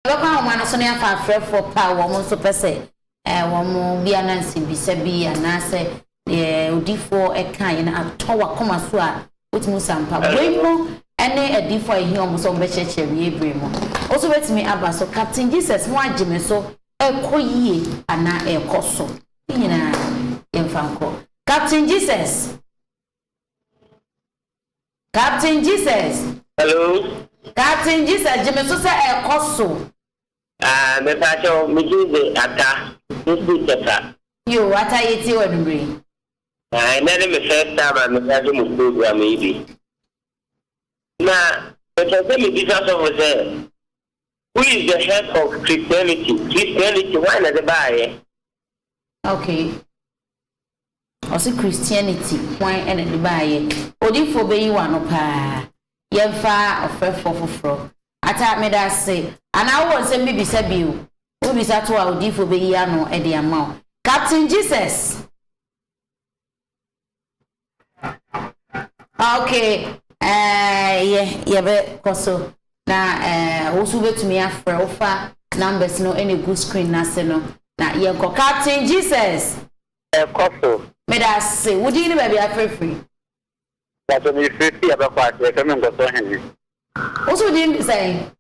Yɛbɛkɔ ahoma no so na yɛafa afrɛfoɔ pɛ a wɔn nso pɛ sɛ wɔn bi ana nsɛmbisa bi anaasɛ deɛ odiyifoɔ ɛka yɛ no atɔ wakoma so a wotumi usa ampa. Wei mo ɛne adiyifoɔ a yɛhia wɔn sɛ wɔn bɛkyerɛkyerɛ wie bere mu. Woso bɛtumi aba so. Captain Jesus mo agye me so ɛkɔ yie anaa ɛkɔ so. Ne nyinaa yɛmfa nkɔ. Captain Jesus. Captain Jesus. Hello. Captain Jesus gye me so sɛ ɛkɔ so. Ah me pa kyɛw me din de Ata me fi Tɛfa. Yo Ata yɛ tie wo anummerɛ yi. Ah ɛnɛ ne me first time a me ka so mo program yi bi. Na me pɛ sɛ me bisa sɔfo sɛ who is the head of Christianity? Christianity why na de baayɛ? Okay. Ɔse Christianity hwan na de baayɛ. Odifoɔ bɛyi w'ano paa. Yɛmfa ɔfrɛfoɔ foforɔ. Atta medase. Anaa wowɔ nsɛm bi bisa bio? Wobisa to a odiyifoɔ bɛyi ano de ama wo. Captain Jesus! Okay, eh, yɛ, yɛbɛkɔ so. Na wo nso wobɛtumi afrɛ, wofa numbers no na ɛgu screen no ase no na yɛnkɔ. Captain Jesus! Ɛkɔ so. Meda ase. Wo din ne baabi a wofrɛ firi? Mpakyɛ mefrɛ fii Abakwase, yɛfrɛ me Nkɔsoɔ Hene. Wo nso wo din de sɛn?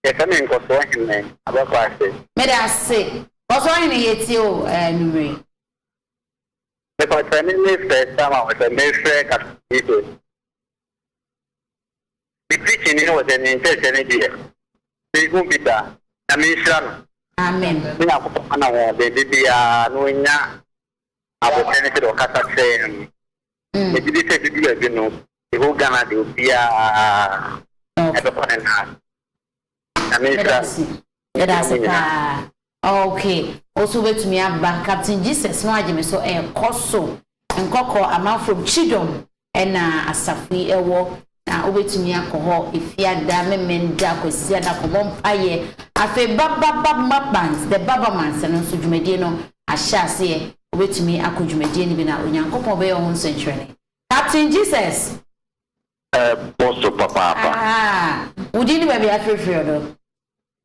Yɛfrɛ me Nkɔsoɔ Hene, Abakwase. Meda ase. Nkɔsoɔ Hene yɛtie wo anwumerɛ yi. Mepakyɛ ɛne ne first time a wɔsɛ mefrɛ Captain Jesus. Me preaching no wɔ sɛ me nkyerɛkyerɛ no deɛ me hu bi da Nyame nhyira no Amen. Me Nyankopɔn ma no ahoɔden de biara na ɔnya aboterɛ ne sɛdeɛ ɔkasa kyerɛ yɛn no Mɛ gye di sɛ ɛbɛduru adu no the whole Ghana deɛ obiara ɛbɛkɔ ne nan Nyame nhyira no Meda ase paa. Ok wo so wobɛtumi aba. Captain Jesus no agye me so ɛkɔ so nkɔkɔ amanfrom kyidɔm ɛna asafo yi ɛwɔ na wobɛtumi akɔ hɔ efiada memenda kwasiada kɔbɔ mpaeɛ afei bababab mapbands the babamans no nso dwumadie no ahyɛ aseɛ wobɛtumi akɔ dwumadie no bi na onyankopɔn bɛyɛ wo ho nsɛnkyerɛne captain jesus ɛkɔ so papaapa. Ahaa, wodin ne baabi a afirifiri ɔdɔ.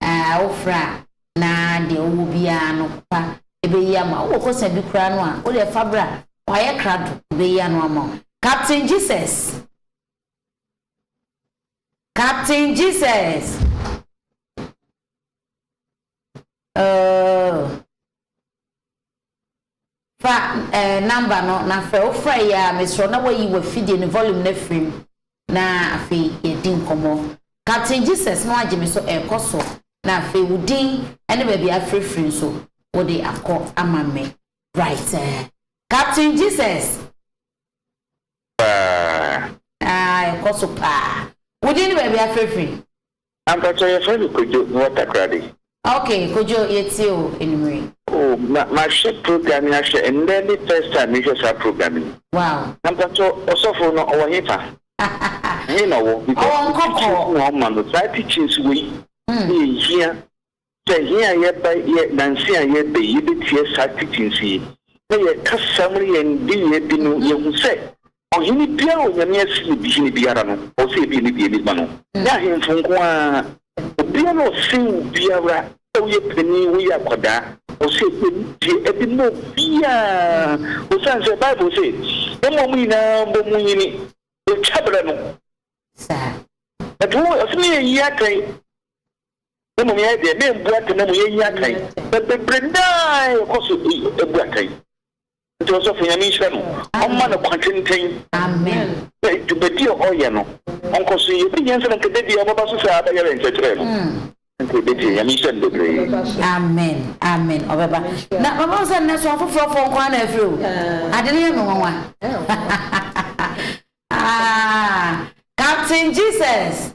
Ɛɛ, wofrɛ a na deɛ wowɔ biara no papa bɛyi ama wo. Wowɔ kɔsa bi koraa no a, wo deɛ fa bra. Wayɛ krado, ɔbɛyi ano ama wo. Captain Jesus! Captain Jesus! Oh! Fa eh number no na frɛ. Wo frɛ yɛ a, mesrɛ wo na woayi w'afidie no volume no afiri mu na afei yɛadi nkɔmmɔ. Captain Jesus na wagye me so ɛrekɔ so na afei wo din ne baabi a afirifiri nso wode akɔ ama me. Right eh Captain Jesus. Paa. Ah ɛkɔ so paa. Wo din ne baabi a afirifiri. Mpakyɛw yɛfrɛ no Kojo, mewɔ Takoradi. Ok Kojo yɛtie wo anwummerɛ yi. Oh ma mahwɛ program yi ahwɛ ndɛ ne first time mehwɛ saa program yi. Wow. Na mpakyɛw ɔsɔfo no ɔwɔ hefa? Hehe na ɔwɔ? Because teachings na ɔma no saa teachings wei na ɛhia Sɛ hɛn a yɛba yɛ Nanse a yɛreba yi yebetsie saa titsi nsu yi, na yɛka saa mu no yɛ ndeyɛɛ bi no, yehu sɛ ɔhen biara a Onyame asi no bi hen biara no, ɔwɔ sɛ yebue ne deɛ enigma no. Nyɛ ahemfo nko ara, obiara a ɔsen wo biara, sɛ woyɛ panin, woyɛ akwadaa, ɔwɔ sɛ yɛbue ne deɛ adi ma obiara, osiane sɛ Bible se, Mma mo nyinaa mbɔ mu nyini, otwa berɛ no. Saa. Ɛnti wo, ɔse me yɛ yie atɛn, Na mmom yɛn deɛ, membu atɛn na mmom yɛnyi atɛn. Na bebree nnaa yɛkɔ so bu atɛn. Nti ɔsɔfo, Nyame nhyira no, ɔmma no kwa tenten na dwumadi a ɔyɛ no, ɔnkɔ so yɛ. Bɛhia sɛ na nka dabi a ɔbɛba so sɛ abɛyɛ yɛn nkyerɛkyerɛ no. Nti yɛbɛtie. Nyame nhyira no bebree. Amen, amen, ɔbɛba. Na papa wo sɛ nnɛ so afoforɔ foɔ nko ara na afiri o. Ade no yɛ me nwanwa. Aah, Captain Jesus.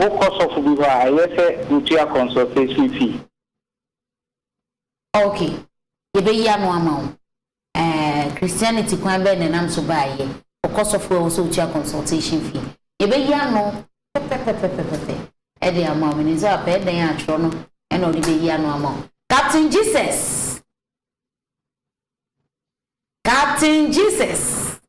Wokɔ sɔfo bi hɔ a, ɛyɛ sɛ wutua consultation fee. Ok, yɛbɛyi ano ama wo. Ɛɛ, Christianity kwan bɛn na ɛnam so baa yɛ? Wokɔ sɔfo a, ɛwɔ sɛ wutua consultation fee. Yɛbɛyi ano pɛpɛpɛpɛpɛpɛ de ama wo. Menim sɛ wapɛ, ɛdɛn a twerɛ no na ɔde bɛyi ano ama wo. Captain Jesus! Captain Jesus!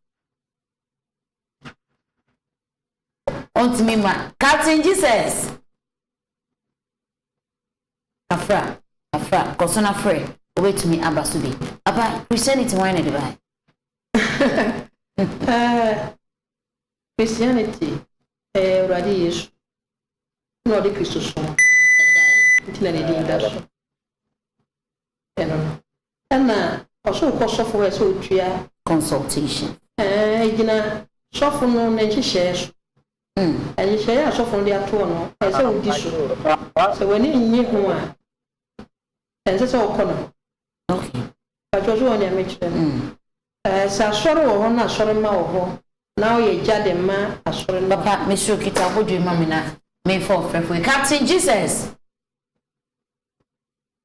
ɔntumi mma captain jesus afra afra kɔso na frɛ obetumi aba so bi papa christianity wɔn na ɛde ba christianity ɛyɛ awurade yesu na ɔde kristosom ɛbae nti na ne din da so no no, nna ɔsor kɔ sɔfo hɔ sɛ otua. Consultation. Ɛɛ, egyina sɔfo no ne nhyehyɛɛ so. Nhyehyɛɛ a sɔfo no de ato hɔ no, ɔsɛ sɛ odi so. Sɛ w'ani nnye ho a, ɛnsɛ sɛ ɔkɔ no. Okay. Mpakyɛw, so wɔ nea mekyerɛ no? Ɛɛ, sɛ asɔr wɔ hɔ na asɔrmba wɔ hɔ na ɔyɛ gya de ma asɔr no a. Papa, meserɛ wo kitsa abɔdwe ma me na memfa ɔfrɛfo yi. Captain Jesus!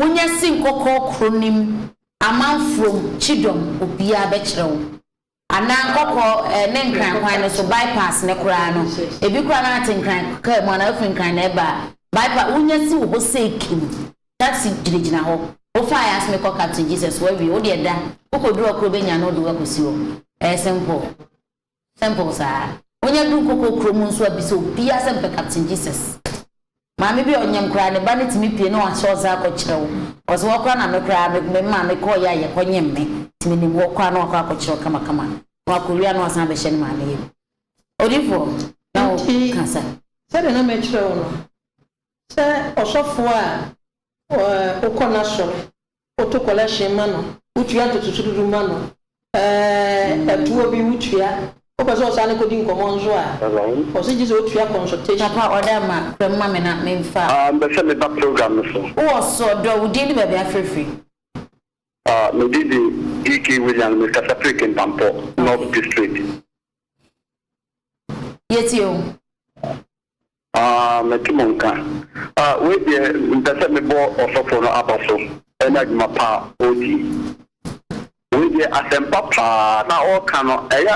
wonya si nkɔkɔɔ koro no mu amanfuom kyidɔm obiara bɛkyerɛ wo. Anaa nkɔkɔɔ eh, ne nkran kwan no so, bypass no koraa no, ebi koraa no ate nkran kaa mu anaa wafiri nkran na ɛba a, bypass, wonya si wɔ hɔ sei kim, taxi gyinagyina hɔ, wofaeɛ ase mekɔ Captain Jesus, wawie, wo deɛ da, wokɔduru ɔkoro bɛnya no wode wo akɔsi hɔ. Ɛyɛ simple. Simple saa. Onya du nkoko kuro mu nso abisa obiaa sɛ mepɛ captain Jesus. Maame bi a ɔnyem koraa ne ba no tumi pie na wahyɛ ɔsa akɔ kyerɛw. Cause hɔ koraa na me koraa me me maame kɔɔ yɛ a yɛkɔ nyem me nti menim hɔ koraa na wakɔ akɔ kyerɛw kama kama na wakɔ wie a na wasan abɛhyɛ ne maame yam. Odifoɔ na wo Nti ka sa. sɛdeɛ na mekyerɛ wo no sɛ ɔsɔfoɔ a ɔɛ okɔ n'asɔre Woto kɔlɛhyen ma no, wotua ntotoso du du ma no, ɛɛ, atuo bi wotua. Wopɛ sɛ ɔsan no kɔdi nkɔmmɔ nso a, ɔse gye sɛ ɔtua consultation. Papa ɔde ama, kura mu ma me na menfa. Ah, mepɛ sɛ meba program no so. Wowɔ so ɔdɔ, wo din ne baabi afrɛfiri? Ah, me din de DK Williams, me Kasaprik Mpampɔ North District. Yɛtie wo. Aah mɛte mo nka. Ah wei deɛ mpɛ sɛ mebɔ ɔsɔfoɔ no aba so ɛne adwuma pa a ɔredi yi. Wei deɛ asɛmpa pa ara na ɔreka no ɛyɛ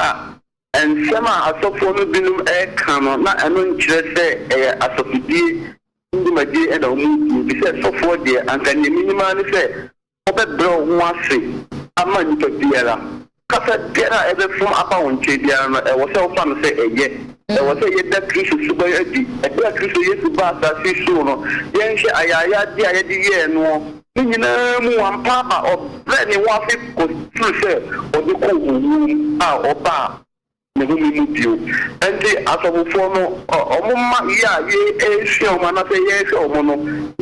a nsɛm a asɔfoɔ no binom reka no na ɛno nkyerɛ sɛ ɛyɛ asɔfodie dwumadie na wɔredi efisɛ sɔfoɔ deɛ anka deɛ menim ara ne sɛ Ɔbɛbrɛ wo ho ase ama nnipa biara. Kasa biara a ɛbɛfam aba wo nkyɛn biara no, ɛwɔ sɛ wofa no sɛ ɛyɛ. Ɛwɔ sɛ yɛda Kristo suban adi. Bere a Kristo Yesu baa asase so no, yɛnhwɛ ayayade a yɛde yɛɛ noɔ no nyinaa mu, wampa aba. Ɔbrɛɛ ne ho ase kɔsii sɛ ɔde kɔɔ owuo mu a ɔbaa. ne home mu bio. Ɛnti asɔfofoɔ no, wɔn mma yi a yɛresua wɔn anaasɛ yɛrehwɛ wɔn no,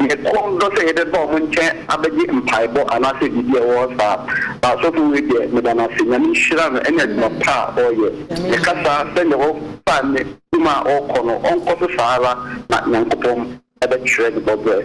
yɛn kɔn dɔ sɛ yɛbɛba wɔn nkyɛn abɛgye mpaebɔ anaasɛ biribi a ɛwɔ hɔ saa. Na sɔfo wei deɛ, meda no ase. Nyame nhyira no ne adwuma pa a ɔreyɛ. Meka saa sɛdeɛ ɔfa ne dwuma a ɔrekɔ no, ɔnkɔ so saa ara na Nyankopɔn bɛkyerɛ ne bɔberɛ.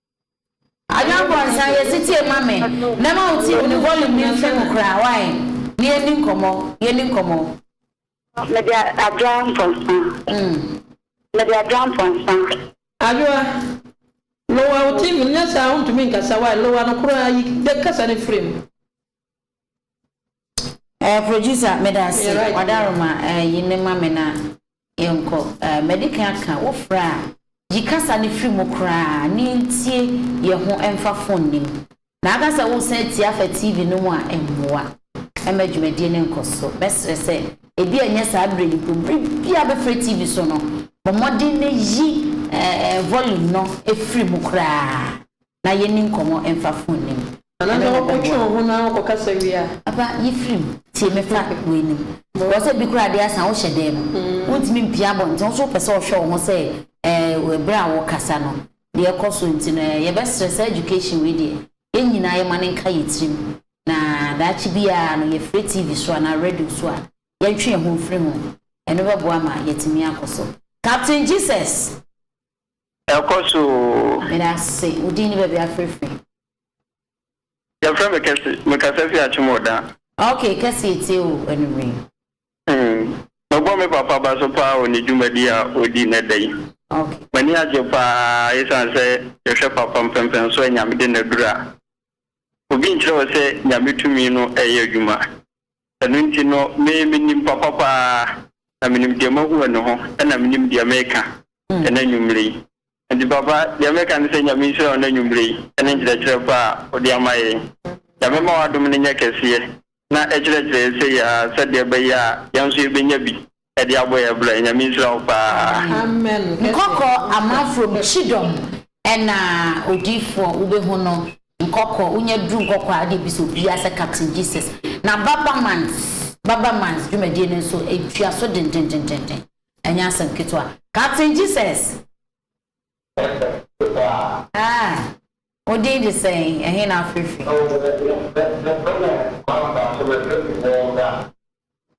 Ayɔnkoansan yɛ setie ma me mɛma wo tirim ne volume no mfe mu koraa wai na yɛnni nkɔmmɔ yɛnni nkɔmmɔ. Mede adwoa mponsa. Mede adwoa mponsa. Adwoa, lower wo tirim nyɛ saa wontumi nkasa wai lower no koraa yi kasa no firi mu. Eh producer meda ase wadaroma eh yi ne ma me na yɛnkɔ eh madi kan aka wo frɛ a yi kasa no firi mu koraa na yɛntie yɛ ho ɛmfa phone no mu na aka sɛ wosan atie afa TV no mu a ɛmmoa ɛma dwumadie no nkɔ so mɛsrɛ sɛ ebi a ɛnyɛ saa berɛ yi mpo bere bi a bɛfrɛ TV so no bɔ mmɔden na yi eh eh volume no firi mu koraa. na yenni nkɔmmɔ mfa fon no mu. Anaasɛ wokɔtwe wo ho na wokɔkasa wie a? Papa, yi firi mu. Tie me fa w'anim. Ɛwɔ sɛ bi koraa de asa wohyɛ dan mu. Wuntumi mpue abɔnten. Wo so wopɛ sɛ ɔhwɛ wo ho sɛ ɛɛ bere a wokasa no, nea ɛkɔ so nti no ɛɛ. Yɛbɛsrɛ, saa education wei deɛ, yɛn nyinaa yɛmma no nka yɛn tirim, na daakye biara no yɛfrɛ TV so anaa radio so a, yɛntwe yɛn ho mfiri ho. Ɛno bɛboa ma yɛatumi akɔ so. Captain Jesus, Ɛkɔ so oo. Meda ase. Wo din ne baabi a wofrɛ firi? Yɛfrɛ me Kɛse. Mekasa fi Akyemordan. Ok, Kɛse yɛtie wo anumere yi. Mebɔ me papa ba so paa wɔ ne dwumadi a ɔdi nnɛ da yi. Ok. M'ani agye paa esiane sɛ yɛhwɛ papa mpɛmpɛnso a Nyame de no aduru a. Obi nkyerɛ wo sɛ Nyame tumi no reyɛ adwuma. Ɛno nti no, me, menim papa paa, na menim deɛ mahu wɔ ne ho, ɛna menim deɛ mereka ɛnɛ anwummerɛ yi. Enti papa, deɛ mereka ne sɛ Nyame nhyira wo ɛnɛ anwummerɛ yi, ɛne nkyerɛkyerɛ pa a wode ama yɛn. Nyame mma w'adom no nyɛ kɛseɛ, na ɛkyerɛkyerɛ yɛn seyi ara, sɛdeɛ ɛbɛyɛ a yɛn nso yɛbɛnya bi Ɛde abɔ yɛ bra nyame nhyira wo paa. Amen kɛsɛ. Nkɔkɔ ama from kyidɔm ɛna odiifoɔ wobɛhu no nkɔkɔ wonya duru nkɔkɔ a wode bisa obiaa sɛ captain Jesus na baba man's baba man's dwumadie no nso ɛtua so dendendendenden ɛnyɛ asɛm ketewa captain Jesus ah wo din de sɛn ɛhe na afrɛfiri.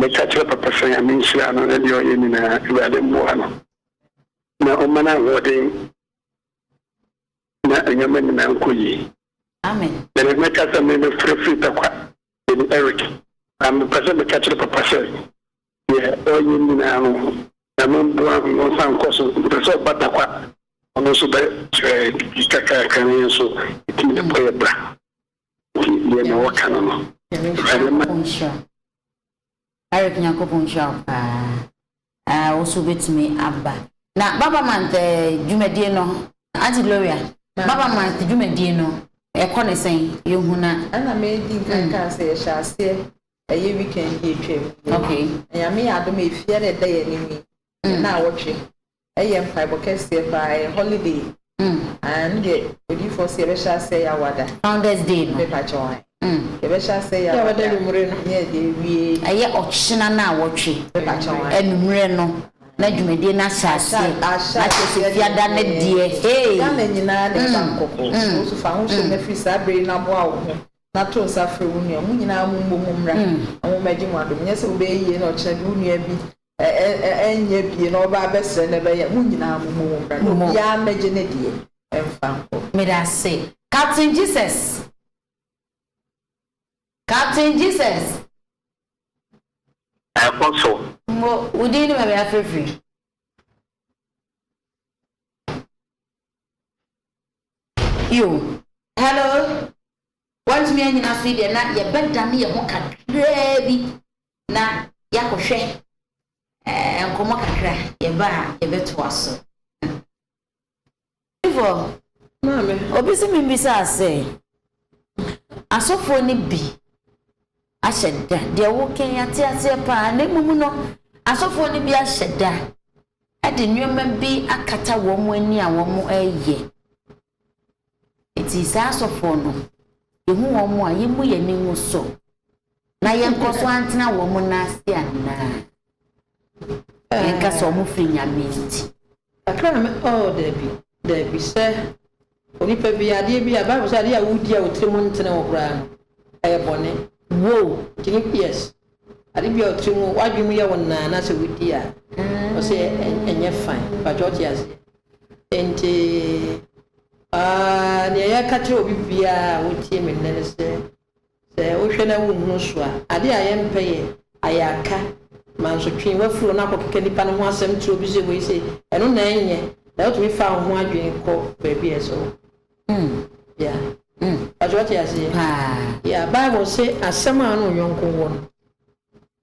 Meka kyerɛ papa sɛ Nyame nhyira no ne deɛ ɔyɛ nyinaa, Awurade mmoa no na ɔmma no ahoɔden na nneɛma nyinaa nkɔ yie. Amen. Mede mɛka sɛ me mefrɛ firi Takwa, mede Eric, na mepɛ sɛ meka kyerɛ papa sɛ deɛ ɔyɛ nyinaa no Nyame mboa no na ɔnsan nkɔ so, mepɛ sɛ ɔba Takwa ɔno nso bɛkyerɛ biribi kakraka na yɛn nso yɛtumi de bɔ yɛn bra. Tie deɛ na wɔka no no. Awurade mma. Eric Nyankopɔn nhyira wo paa ah wo so wobɛtumi aba na Baba month eh, dwumadie no Auntie Gloria Baba month dwumadie no ɛkɔ ne sɛn yɛhu na ɛna medi nkan mm. kaa sɛ yɛhyɛ aseɛ ɛyɛ weekend bi atwam okay nyame yɛ adom ɛfie ɛna ɛda yɛ anim yi mm. na awɔtwe Ɛyɛ mpaebɔ kɛseɛ paa ɛyɛ holiday mm aah me deɛ odiyifoɔ se yɛbɛhyɛ aseɛ yɛ awada founders day no me pakyɛ wo mm yɛbɛhyɛ aseɛ yɛ awada anwummerɛ no ne yɛde awie ɛyɛ ɔkyena na awɔtwe me pakyɛ wo anwummerɛ no na dwumadie no ahyɛ aseɛ ahyɛ na kyerɛ sɛ fiada no deɛ hey Ghana nyinaa na ɛba mm nkɔkɔ mm wo nso fa ho hyɛ mm na firi saa berɛ yi na boa wo ho na to nsa frɛ wo nua mo nyinaa mo mmɔ mu mmra mm na mo mmɛgye mo adom nyɛ sɛ wobɛyɛ yie na ɔkyena de wo nua bi Ɛnyɛ bie na ɔbaa bɛsrɛ na ɛbɛyɛ mo nyinaa mo mu mmra na obiara mmɛgye ne deɛ mfa nkɔ. Medase captain Jesus captain Jesus. Ɛkɔ so. Mo wo din ne baabi afrɛ firi. Yo hello wantumi anyina so yi deɛ na yɛbɛdane yɛn ho kakraa bi. na yɛakɔhwɛ nkɔmmɔ kakra a, yɛba a yɛbɛtoa so. Favour, Maame, obi se memmisa wo sɛ, asɔfoɔ no bi ahyɛ da, deɛ woka yi yɛate aseɛ pa ara, na mmom no asɔfoɔ no bi ahyɛ da de nneɛma bi akata wɔn ani a wɔreyɛ. Enti saa asɔfoɔ no, yɛhu wɔn a, yɛmmu yɛn ani ngu so. na yɛnkɔ so antena wɔn nan ase anaa? Yɛnka sɛ wɔn firi Nyame nti. Ɛka na me, oh, dabi, dabi, sɛ onipa bi adeɛ bi a Bible sɛ adeɛ a wodi a otiri mu ntene wo koraa no, ɛyɛ bɔne. Wow. Nti ne yes, adeɛ bi a otiri mu, wadwene mu yɛ wo naa na sɛ wodi a, mm. ɔsɛ ɛnyɛ fine, bàtɛ ɔte aseɛ. Nti, ah, nea yɛka kyerɛ obi biara a wotie me nnɛ ne sɛ, Sɛ wohwɛ na wonhunu so a, ade a yɛmpɛ yɛ ayarka, mansotwe, w'afuro na akɔkeka nipa no ho asɛm tiri obi se wei sei, ɛno na ɛnyɛ na wotumi fa wo ho adwene kɔ baabi a ɛsɛ hɔ. Mm, yeah, mm, pakyɛ wate aseɛ? Paa. Yeah, Bible se asɛm a wo ne wo yɔnko wɔ no,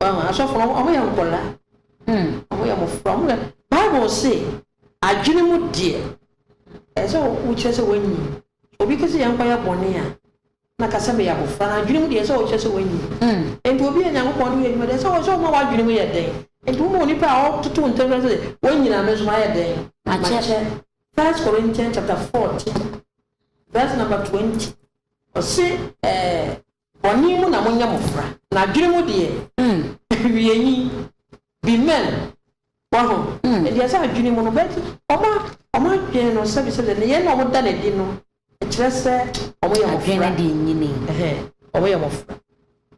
Wɔn asɔfo no, wɔyɛ nkɔla. Hmm, wɔyɛ mmofra. Wɔn yɛ Bible se, adwene mu deɛ, ɛsɛ sɛ wokyerɛ sɛ wɔanyin. Obi ka sɛ yɛnkɔyɛ bɔne a, na ka sɛ meyɛ abofra. Na adwene mu deɛ, ɛsɛ sɛ wokyerɛ sɛ wɔanyin. Hmm. Enti obi a Nyankopɔn de yɛ adwuma deɛ, ɛsɛ sɛ ɔma w'adwene mu yɛ den. Enti woma onipa a ɔtoto ntɛm kyerɛ sɛ wɔanyin a, me nso mayɛ dɛn? Makyɛ. First Corinthians chapter fourteen, verse number twenty. Ɔse, eh. Bɔne mu na monyɛ mo fra. Na adwene mu deɛ awiei bi mɛn. Wahu? Ɛdeɛ sɛ adwene mu no, but wɔn adwene no sɛbi sɛbi nneyɛɛ no a wɔda no adi no kyerɛ sɛ wɔyɛ mo fra. Adwene deɛ nyini. Ɛhɛn, wɔyɛ mo fra.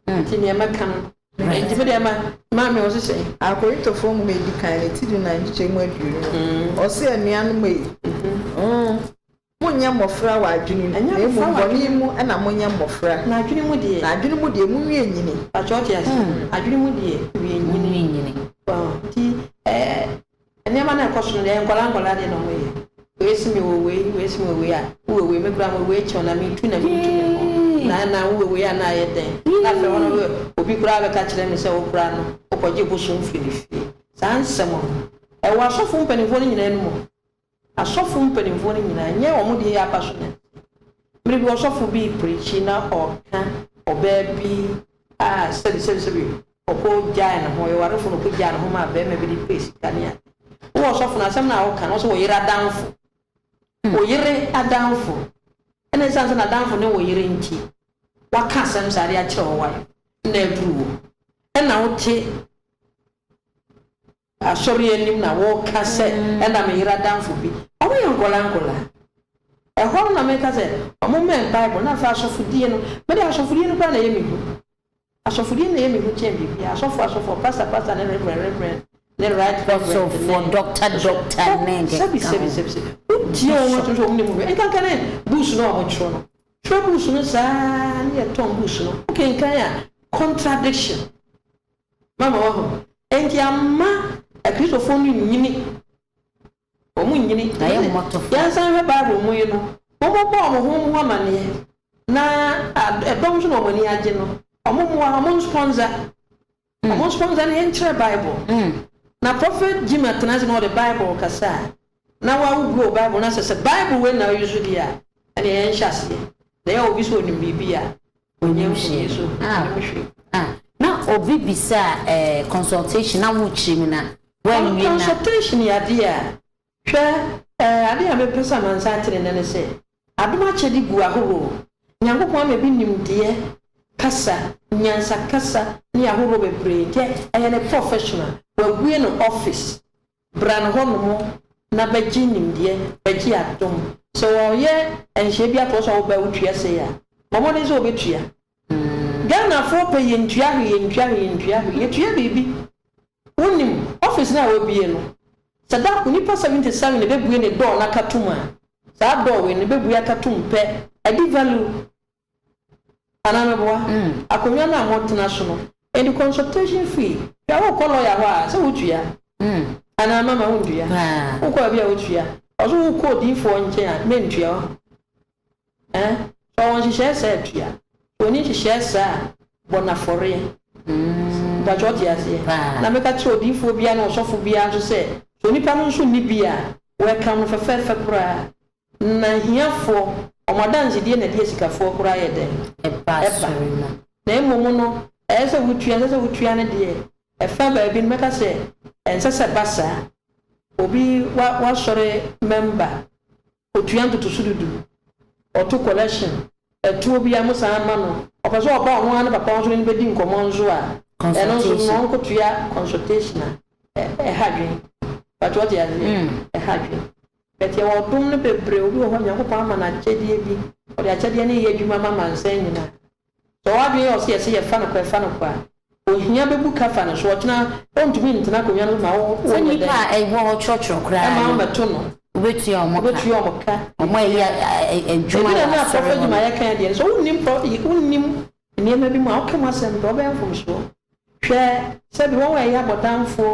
Nti neɛ mɛka no. Nti medeɛ ma, Maame wo se sɛn? Akorintofoɔ Nwoma a Ɛdi Kan no, ti dunan nkyekyɛmu aduonu no, ɔse, Anuanom ei, Monnyɛ mmɔfra wɔ adwene mu, na mmom bɔne mu na monyɛ mmɔfra. Na adwene mu deɛ. Na adwene mu deɛ, monwie nyini. Pakyɛ wote aseɛ? Adwene mu deɛ, wie nyini. Monwie nyini. Wow, nti ɛɛ, nneɛma no a ɛkɔ so no deɛ, nkwadaa nkwadaa deɛ na wɔyɛ. Wei se mewɔ wei, wei se mewɔ wei a, wowɔ wei, me koraa mewɔ wei kyɛn wo, na metu na mentu me ho. Na na wowɔ wei a na ayɛ dɛn? Na afei hɔ no wowɔ, obi koraa bɛka kyerɛ me sɛ wo koraa no, wokɔgye bosom firi ne fie. Saa nsɛm no, ɛwɔ asɔfo mpanimfoɔ no nyinaa anom o. Asɔfo mpanimfoɔ no nyinaa nyɛ wɔn deɛ yɛ aba so nnɛ. Mmerɛ bi ɔsɔfo bi repreakyi na ɔka ɔbaa bi a sɛbi sɛbi sɛbi ɔkɔ gyae ne ho, ɔyɛ ɔwarefo na ɔkɔ gyae ne ho maa barima bi de pɛɛ sika ne ade. Wo ɔsɔfo no asɛm no a woka no ɔse ɔyere adamfo. Ɔyere adamfo. Ɛna ɛsiane sɛ n'adamfo ne wo yere nti waka asɛm saa de akyerɛ wo wai na aduru wo. Ɛna wote. Asɔre anim na wɔka sɛ ɛna me yere adamfo bi. Wɔyɛ nkwadaa nkwadaa. Ɛhɔ no na meka sɛ wɔmmɛn Bible na afei asɔfodie no. Mede asɔfodie no koraa na ɛyɛ me hu. Asɔfodie no na ɛyɛ me hu kyɛn biribiara. Asɔfoɔ asɔfoɔ, pastor pastor ne reverend reverend ne right reverend ne Ɔsɔfoɔ, doctor doctor ne deɛ ɛkeka ho. Sɛbi sɛbi sɛbi sɛbi. Wotie wɔn atom sɛ wɔn nim hwee. Nkankane books no a wɔtwerɛ no. Twerɛ books no saa na yɛtɔn books no. Wokenkan a contradiction Mama woahu. Enti amma Akristofo no nnyini. Wɔnnyini. Na yɛ mmɔtofa. Yɛnsan nhwɛ Bible mu yi no, Wɔmmɔbɔ wɔn ho wɔn ho amanneɛ, na dɔm nso na wɔn ani agye no. Wɔmmoa, wɔnspɔnsa. Wɔnspɔnsa na yɛnkyerɛ Bible. Na Prophet Jim atena ase na ɔde Bible rekasa a, na wagogo Bible no asɛ sɛ Bible wei na ɔyusu deɛ a, ɛnneɛ yɛnhyɛ aseɛ. Na yɛwɔ obi sɛ ɔnim biribi a, Onyam hyɛɛ so a wɔhwɛ a na obi bisa a ɛɛ consultation na wo kyerɛ mu na wanwie na. Consultation yɛ adeɛ a hwɛ ɛɛ adeɛ a me pɛ sɛ amansan ate ne nɛ ne sɛ adom akyɛde gu ahoroo Nyankopɔn ama bi nimdeɛ kasa nyansa kasa ne ahoroo bebree nti ɛyɛ ne professional wabue no office Bra no hɔnom na bɛgye nimdeɛ, bɛgye adom. Sɛ wɔyɛ nhyeɛ bi ato hɔ sɛ wobɛ wotua sei a, bɔ mmɔden sɛ wobɛtua. Ghanafoɔ pɛ yɛntua hwee, yɛntua hwee, yɛntua hwee. Yɛtua biribi. Wonim, office no a wabue no, sɛ da koro nnipa 77 na ɛbɛbue ne door no akatom a, saa door wei no bɛbue akatom pɛ. Ɛde value. Anaa meboa? Akonnwa no a motena so no, and consultation fee, hwɛ wokɔ lawyer hɔ a sɛ wotua? Anaa mama wontua? Wokɔ baabi a wotua? Ɔso wokɔ odiyifoɔ nkyɛn a mentua wahu? Ɛɛ? Sɛ ɔwɔ nhyehyɛɛ saa a tua, sɛ ɔnni nhyehyɛɛ saa a bɔ no afɔreɛ. Mpakyɛ ɔte aseɛ? Na meka kyerɛ odiyifoɔ biara ne ɔsɔfo biara nso sɛ sɛ onipa no nso nni bi a welcome no fɛfɛɛfɛ koraa. Na ahiafoɔ, wɔn adansedie na ɛdeɛ sikafoɔ koraa yɛ dɛn? Ɛba. Na mmom no, ɛyɛ sɛ wotua, ɛnsɛ sɛ wotua no deɛ ɛfa baabi no, mɛka sɛ ɛnsɛ sɛ ɛba saa. Obi, wa, w'asɔre mɛmba, ɔtua ntotoso dudu, ɔto collection, ɛtoɔ biara mo san ma no, ɔpɛ sɛ ɔba ɔno ara ne papa ɔsɔre no bɛdi nkɔmmɔ nso a, ɛno nso no, ɔnkɔtua consultation a, ɛ, ɛha adwene. Pato, wote aseɛ? Ɛha adwene. But yɛwɔ ɔdom no bebree, obi wɔ hɔ Nyankopɔn ama no akyɛdeɛ bi, ɔde akyɛdeɛ no yɛ adwuma ma amansan nyina. Sɛ ɔwɔ adwene yɛ ɔse yɛse yɛ fa no kɔ ɛfa no kɔ a, ohia bɛbu ka fa no so, ɔkyena ɔntumi ntena akonwa no so ma wo, wo Sɛ nyɛ nnipa dɛn? a ɛwɔ hɔ twerɔtwerɔ koraa Ɛma no, ɔmɛto no, wobɛtua wɔn ka, wobɛtua wɔn ka, wɔn a ɛyɛ adwuma Ɛduru wɔ ɛno a prɔfo asɔre hɔ no. adwumayɛ kan deɛ no sɛ wonnim prɔ, wonnim nneɛma bi mu a, woka mu asɛm pɛ a, wobɛyɛ mfomsoɔ. Hwɛ sɛ bi wɔ hɔ a ɛyɛ abɔdamfoɔ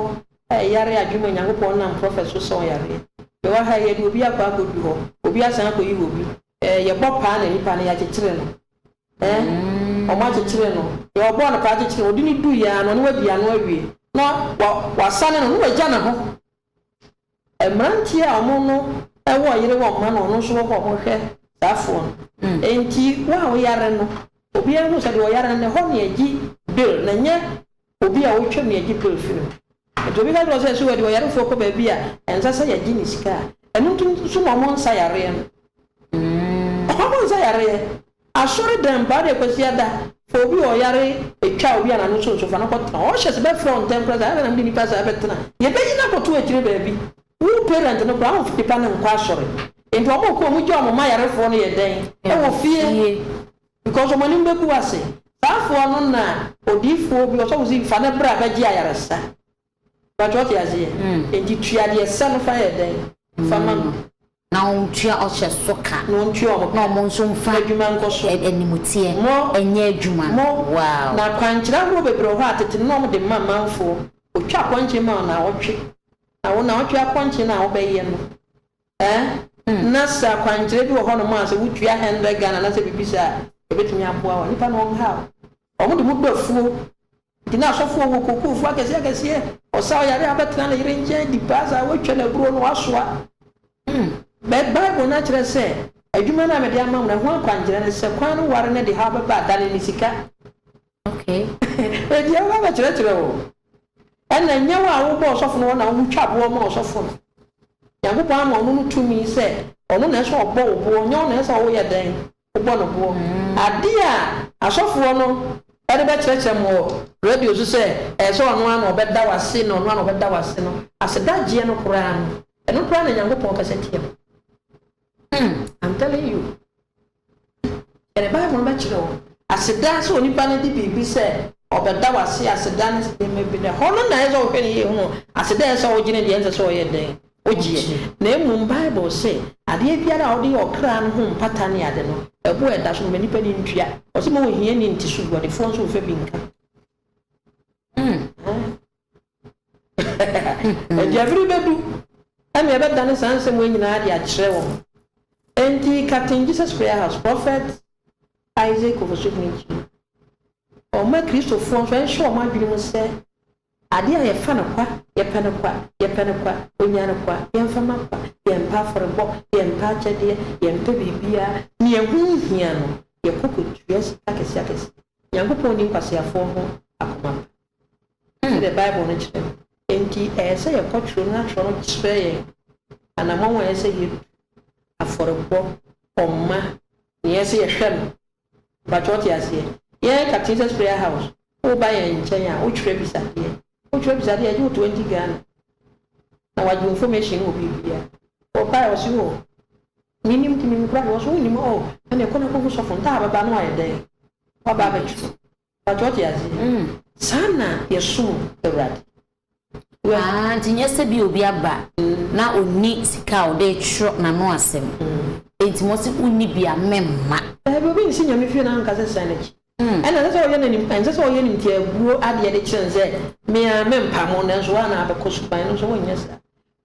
a ɛyare adwene mu a Nyankopɔn nam prɔfɛt so sa wɔn yareɛ. Yɛwɔ ha yi, yɛde obi akɔ akɔdu hɔ, obi asan akɔyi wɔ bi. Ɛɛ, yɛbɔ paa na nipa no, yɛakyekyere no. Ɛɛ, wɔakyekyere no. Deɛ wɔbɔɔ no paa kyekyere no, wɔde no duiɛ ara no, ɔno wadi ano awie. Na wa, wɔasane no, na wagya ne ho. Mmeranteɛ a wɔn no wɔ yere wɔ mma no ɔno nso wɔ hɔ a wɔhwɛ saa foɔ no nti wo a woyare no obiara hu sɛ deɛ ɔyare no ɛhɔ na yɛgye bill na nyɛ obi a ɔtwam na yɛgye bill firi no nti obi ka kyerɛ wo sɛ so ɛde ɔyarefoɔ kɔ baabi a ɛnsɛ sɛ yɛgye ne sika a ɛno nti nso na wɔn nsa yareɛ no wɔn nsa yareɛ Asɔre dɛm paa dɛ Kwasiada fa obi a ɔyare etwa obi a n'ano so nso fa no kɔ tena hɔ ɔhyɛ se bɛfrɛ wo ntɛm koraa se adɛn na mede nipa saa bɛtena yɛbɛyi no akɔto akyire baabi wo parent no koraa wonfa nipa no nkɔ asɔre enti ɔmo kɔ ɔmo gya ɔmo ma yarefoɔ no yɛ dɛn ɛwɔ fie because ɔmo anim bɛgu ase saa foɔ no na odiifoɔ bi ɔsɔfo se fa no bra bɛgye ayaresa But wate aseɛ? Enti tua deɛ ɛsɛ no fa yɛ dɛn? Fa ma no. Na wɔntua ɔhyɛ so ka. Na wɔntua wɔn ka. Na wɔn nso mfa. Adwuma nkɔ so. Animteɛ. Mo. Nyɛ adwuma. Mo. Wow. Na akwankyerɛ ahoroɔ bebree wɔ hɔ a tete no na wɔde ma amanfoɔ. Wɔtwa akɔnkyen ma wo naawɔtwe. Na wo naawɔtwe akɔnkyen no a wobɛyɛ no eh, na sɛ akwankyerɛ bi wɔ hɔnom a sɛ wotua hundred Ghana anaasɛ biribi saa a, ɛbɛtumi aboa wo. Nnipa no wɔnhaw. Wɔde mo bu afuo Ntsi na asɔfo wɔ kokoofo akɛse akɛse, ɔsaa ɔyare a abɛtsena ne yer nkyɛn dzi baa dza oetwa no eburow no ɔasoa. Mbɛ Bible no akyerɛ sɛ, Adwuma no a mede ama mo no, ɛho akwankyerɛ ne sɛ kwan no ware no de haw bɛba adane ne sika. Enti yɛbɛba abɛkyerɛkyerɛ wo. Nna nyew a wobɔɔ ɔsɔfo no hɔ na wo twa boɔ maa ɔsɔfo no. Nyankopɔn ama ɔno no tumi sɛ ɔno na ɛsɛ ɔbɔ wo boɔ, nyɛ wo na ɛsɛ ɔwo yɛ dɛn? bɔ no boɔ. Adeɛ a asɔfoɔ no de bɛkyerɛkyerɛ mo wɔ radio so sɛ ɛyɛ sɛ ɔno ara na ɔbɛda w'ase na ɔno ara na ɔbɛda w'ase no, asedagyeɛ no koraa no, ɛno koraa na Nyankopɔn pɛ sɛ teɛ no. Hmm, I'm telling you. Yɛde Bible no bɛkyerɛ wo. Aseda sɛ onipa no de biribi sɛ ɔbɛda w'ase aseda no nneɛma bi no, ɛhɔ no na ɛyɛ sɛ ɔhwɛ ne yie hunu aseda ɛyɛ sɛ ɔgye no deɛ ɛnsɛ sɛ ɔyɛ dɛn. ogyeɛ, na mmom Bible se, Adeɛ biara a wode yɛ ɔkra no ho mpata ne ade no, ɛbo a ɛda so no, ma nnipa no ntua. Ɔse ma ohiani nte so gu, ɔdefoɔ nso mfa bi nka. Ɛnti bere bɛdu ɛne ɛbɛdane saa nsɛm wei nyinaa de akyerɛ wɔn. Ɛnti Captain Jesus Prayer House, Prophet Isaac Owusu-Boaky, ɔma Kristofoɔ nso ɛnhyɛ wɔn adwene mu sɛ Ade a yɛfa no kwa, yɛpɛ no kwa, yɛpɛ no kwa, onya no kwa, yɛmfa ma kwa, yɛmpɛ afɔrebɔ, yɛmpɛ akyɛdeɛ, yɛmpɛ biribiara, nea ɛho nhia no, yɛkɔ kɔtua sika akɛseakɛseɛ. Nyankopɔn nni nkwaseafoɔ ho akoma pa, sɛdeɛ Bible no kyerɛ no. Enti ɛyɛ sɛ yɛkɔ twerɛ mu na twerɛ no kyerɛ yɛn anammɔn a ɛyɛ sɛ yɛtu, afɔrebɔ, ɔma, nea ɛyɛ sɛ yɛhwɛ no, Mpakyɛ wo te aseɛ? Yɛ ka Jesus prayer house wo ba yɛn nkyɛn a wo twerɛ bisadeɛ wo twerɛ bisadeɛ yɛgye wo twenty Ghana na wagye wo information no wɔ biribiaa wɔ baɛ ɔse oh me nim nti me nim kora deɛ ɔse wo nim oh ɛneɛ kɔ na kɔ hu sɔfo ntaa bɛba no ayɛ dɛn waba abɛtwerɛ. Mpatsɔ ɔtse adze mm saa na yɛsom Ewuradze wɛ. Aah ntsi nnyɛ sɛ bi a obi aba na onni sika a ɔde rekyerɛw n'ano asɛm ntsi ma ɔse wonni bi a mɛmma. Daabi, obi nnsi Nyame fie na annkasa sika no akyi. Nna nsɛ sɛ ɔyɛ no enim, nsɛ sɛ ɔyɛ no ntsiabuo adeɛ de kyerɛ no sɛ me ara mɛmpa mo nanso woa na abɛkɔ sukuu, ɛno nso wonnyɛ saa.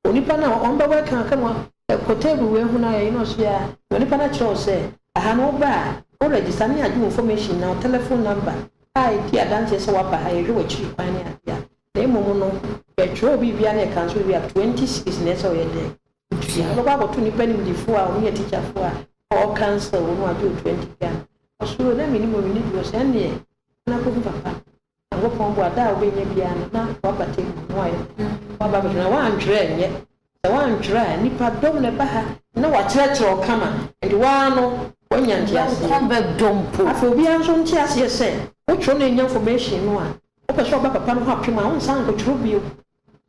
Onipa no a ɔmmbɛwɔ ɛkã aka mu a, kɔ table wei ho na yɛye no ɔso yi ara, na onipa no akyerɛ wo sɛ, aha no woba a, wo register ne yɛagye wo information nyinaa, wo telephone number a edi adanseɛ sɛ woaba ha, yɛhwɛ w'akyiri kwan ne adeɛ a, na mmom no, yɛtwerɛ wo biribiara na yɛkã so wie a, twenty cedis na ɛsɛ sɛ ɔyɛ dɛn? Wotua. Wobɛkɔ akɔto nnipa animdefoɔ a wɔyɛ teacherfoɔ a ɔɔ counsel wo no agye wo twenty Ghana. Ɔso, oo na mennim oo, menni bi, ɔso, ɛnneɛ, kɔ na kɔhu papa no. Nyankopɔn boa da a wobɛnya biara no na w'abata abu mu ayɛ na w'aba abɛhwɛ na w'antwerɛ nyɛ sɛ w'antwerɛ a nnipa dɔm na ɛba ha na w'akyerɛkyerɛ wo kama nti w'aa no w'anya nteaseɛ w'akɔn bɛdɔ mpo. Afei obiara nso nte aseɛ sɛ wotwerɛ na ɛnya information no a wopɛ sɛ ɔba papa no hɔ apem a wonsan nkɔtwerɛ bio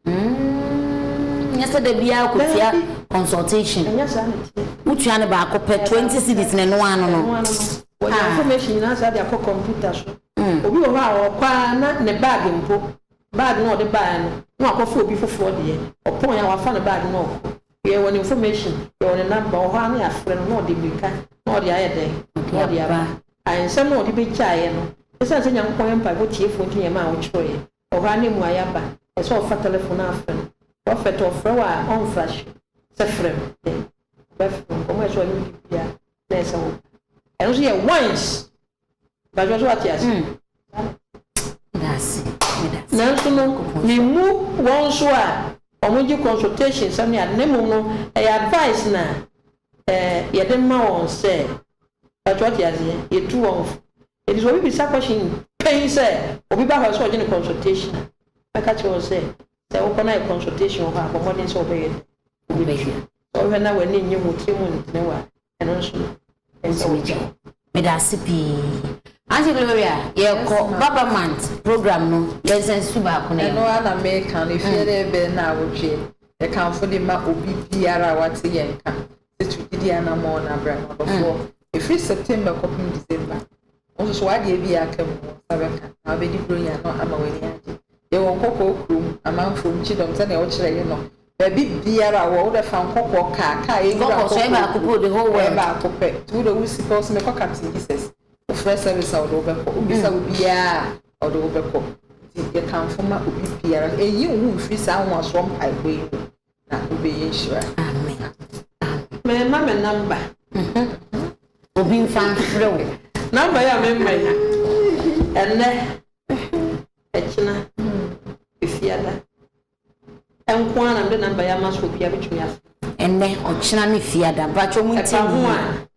Mm, nyɛ sɛ da biara kɔtua consultation. Ɛnyɛ saa na ɛteɛ. Wotua no baako pɛ, 20 cities na ɛno ano no. Wɔde ah. information nyinaa saa de akɔ computer so. Mm. Obi wɔ hɔ a ɔkɔ ara na ne bag mpo, bag na ɔde baeɛ no, na wakɔfa obi foforɔ deɛ. Ɔpɔn a wafa ne bag na ɔkɔ. Yɛwɔ ne information, yɛwɔ ne number, ɔhɔ ara na yɛafrɛ no na ɔde mmirika na ɔde ayɛ dɛn, na ɔde aba. Nsɛm na ɔde bɛgyaeɛ no, ɛsiane sɛ Nyankopɔn yɛ mpaebɔ tiefoɔ nti na ɛma a wɔtwerɛeɛ. Ɔhɔ ara na mmuae aba. Ɛsɛ sɛ ɔfa telefon no afrɛ no. Prɔfɛt a ɔfrɛ wo a, ɔmfra hye sɛ frɛ me dɛ. Ɔbɛfrɛ wo. Nkɔmmɔ a ɛsɛ sɛ ɔne wo di biara na ɛyɛ sɛ woba. Ɛno nso yɛ once. Mpakyɛw, so woate ase? Nanso no, mimmu wɔn nso a wɔgye consultation nsɛm ne ade, na mmom no, ɛyɛ advice na eh, yɛde ma wɔn sɛ, mpakyɛw, wote aseɛ? Yɛtu wɔn fo. Enti sɛ obi bisa question pɛn sɛ obi ba hɔ a ɛsɛ sɛ ɔgye no consultation a, mɛka kyerɛ wɔn sɛ, sɛ wokɔ na ayɛ consultation wɔ hɔ a, bɔ mmɔden sɛ wobɛyɛ dɛn? Wobɛtua. Sɛ wohwɛ na w'ani nnye ho, wo tirim ntene wo a, ɛno nso no, ɛnsɛ sɛ wogye wo. Medase pii. Aunty Gloria, yɛkɔ Baba Month program no, yɛnsan nsusu baako no yɛ ho. Ɛno ara na meka no, ɛfie dɛ bɛyɛ nnawɔtwe, yɛkamfo de ma obi biara a wate yɛn nka. Yesu gyidi anammɔn no abra no, ɔdɔfoɔ, ɛfiri September kɔpem December. Wo nso so w'adeɛ bi a aka mu no, wo nsa bɛka, na wobɛdi Buronya no ama w'ani agye. Yɛwɔ nkɔkɔɔ kurom, amanfoɔ mu, kyidɔm, sɛdeɛ wokyerɛeɛ no, baabi biara a wowɔ, wode fa nkɔkɔɔ kaa, kaa yɛ nwura nkɔkɔɔ kurom, ɛyɛ baako pɛ, nti wode wo sika, wose mekɔ Captain Jesus, wofrɛ service a, ɔde wo bɛkɔ, wobisa obiara a, ɔde wo bɛkɔ. Nti yɛkamfo ma obi biara, ɛnyi wo ho mfiri saa nwanwasoɔ mpaebɔ yi mu. na wobɛyɛ nhyira. Amen. Mɛma me namba. Obi nfa nfrɛ wo. Namba yɛ a mɛma yi. Ɛnɛ, ɛkyena, efiada. Ɛnko ara na mede namba yɛ ama so obiara bɛtumi afrɛ. Ɛnɛ, ɔkyena ne fiada. Mpakyɛ ɔmo ntie me yie. Ɛba ho a,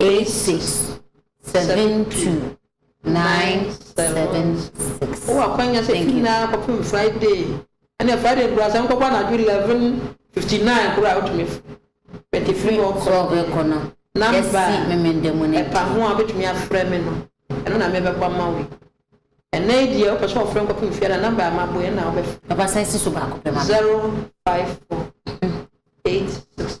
86 72 976. Wowɔ akwanya sɛ tu nyinaa kɔpem Friday ɛnɛ Friday nkura sɛ nkɔbɔ anadwo 11:59 kora a wotumi bɛte firi hɔ kɔ no namba ɛpa ho a wobɛtumi afrɛ me no ɛno na mebɛbɔ ama wo ɛnɛ yi deɛ wopɛ sɛ wɔfrɛ nkɔpem fie na namba a maboe ɛna wobɛfrɛ 054 86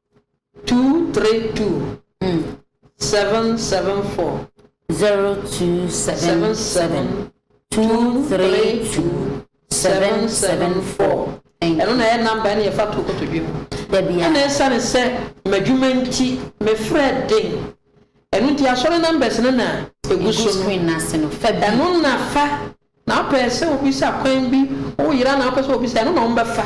232 mm 774. 0277 232 774. Ɛno na ɛyɛ number ɛna yɛfa to kotodwe mu. Ɛna ɛsane sɛ m'adwuma nti me frɛ den. Ɛno nti asɔre numbers no na ɛgu so no. Ɛno na fa na wopɛ sɛ wobisa kwan bi wo yera na wopɛ sɛ wobisa ɛno na wɔbɛfa.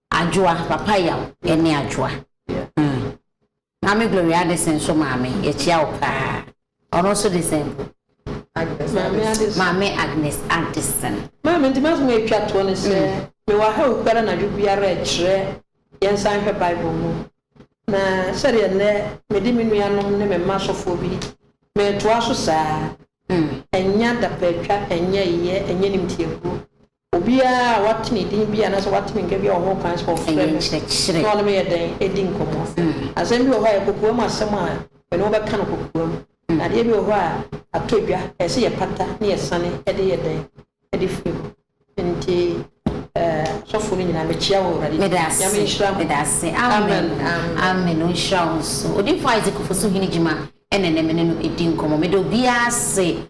Adwoa, Papa Yaw ne Adwoa. Umm. Maame Gloria Addison nso maame, yɛkyia wo paa. Ɔno nso de sɛn bu? Agnes Addison. Maame Agnes Addison. Maame, nti m'asɛm a ɛtwa toɔ ne sɛ, mewɔ ha awuku ara anadwo biara rekyerɛ yɛnsan nhwɛ Bible mu. Na sɛdeɛ nnɛ mede me nuanom ne me mma asɔfoɔ bi meretoa so saa, ɛnyɛ adapɛatwa, ɛnyɛ yeyɛ, ɛnyɛ animtiabuo. Obiara a wate ne din bi anaasɛ wate me nka bi a ɔwɔ hɔ kwan sɛ ɔfrɛ me na ɔne me yɛ dɛn? Di nkɔmmɔ. Asɛm bi wɔ hɔ a ɛyɛ kokoam asɛm a mene wo bɛka no kokoam. Na adeɛ bi wɔ hɔ a atɔ dwa, ɛyɛ sɛ yɛpata na yɛsane de yɛ dɛn? De firi hɔ. Enti asɔfoɔ no nyinaa mekyea wɔ Awurade din mu. Nyame nhyira mo. Amen. Amen. Ɔnhyira wo nso. Odiyifoɔ Isaac Ofosu Hene Gyima na ɛnnɛ me ne no redi nkɔmmɔ. Meda obiara ase.